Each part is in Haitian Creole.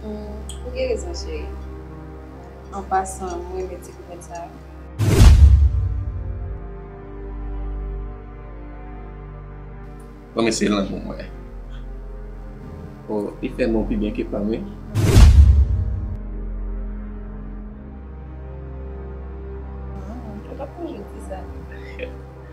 Ou gen rezon cheri. An pasan m renmen ti kouvèt sa yo. Bon men se lanmou mwen. O li fè mou pi byen ke pam wi.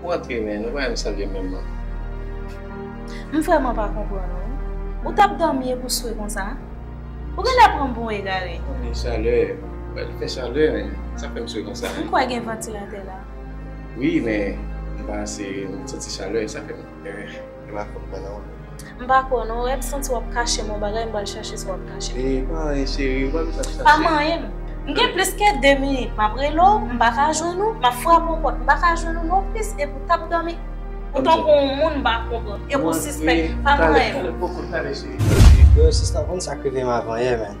Ou antre men, nou pa menm salye menm non. M vrèman pa konprann ou wi. Ou tap dòmi epi w swe konsa? Ou genlè pran m pou yon egare. Ou gen chalè, wè li fè chalè men sa fè m swe konsa. M kwè gen vantilatè la. Wi men m pa ase, m santi chalè sa fè m. Gen la fòk mwen nan. M pa kwè w non Reb, santi wap kache m yon bagay m pral chache sa wap kache m. Eeh pa anyen cheri ou pa bezwen ap chache. Pa manyen m. M gen plis ke 2 minit map rele w m paka jwenn ou, map frape w pòt m paka jwenn ou non plis epi w tap dòmi ou tankou yon moun m pa konprann epi w sispèk, pa manyen m. Talè talè poko talè cheri. Yo sispann konn sak rive m avan yè menn.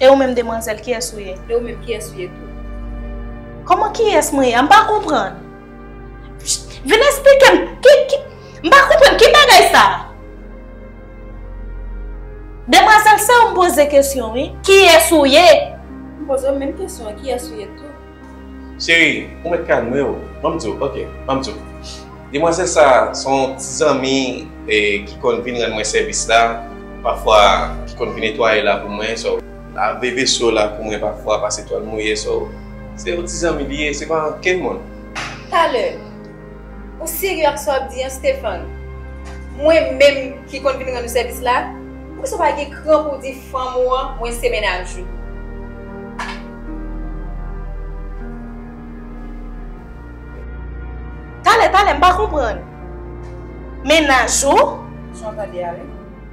E ou menm demwazel kiyes ou ye? E ou menm kiyes ou ye tou? Koman kiyes mwen ye a? M pa konprann. Vin esplike m. M pa konprann ki bagay sa? Demwazel se ou m poze kesyon wi. Kiyes ou ye? M poze ou menm kesyon an kiyes ou ye tou? Cheri, ou mèt kalme w, ban m di w, ok, ban m di w. Demwazèl sa a se yon ti zanmi ki konn vin rann mwen sèvis la pafwa, ki konn vin netwaye la pou mwen, so, lave veso la pou mwen pafwa, pase twal mouye, so, se yon ti zanmi li ye, se pa ankenn moun. Talè, Ou serye ak sa w ap di an Stéphane? Mwen menm ki konn vin rann ou sèvis la, poukisa w pa gen kran pou w di fanm ou an mwen se mennaj ou? Talè talè m pa konprann. Mennaj ou? Sa w tande a wi.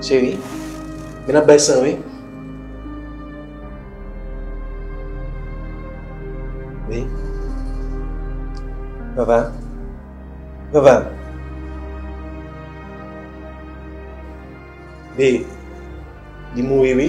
Cheri, men ap bay san wi. Wi. Vava. Vava. Be, li mouri wi.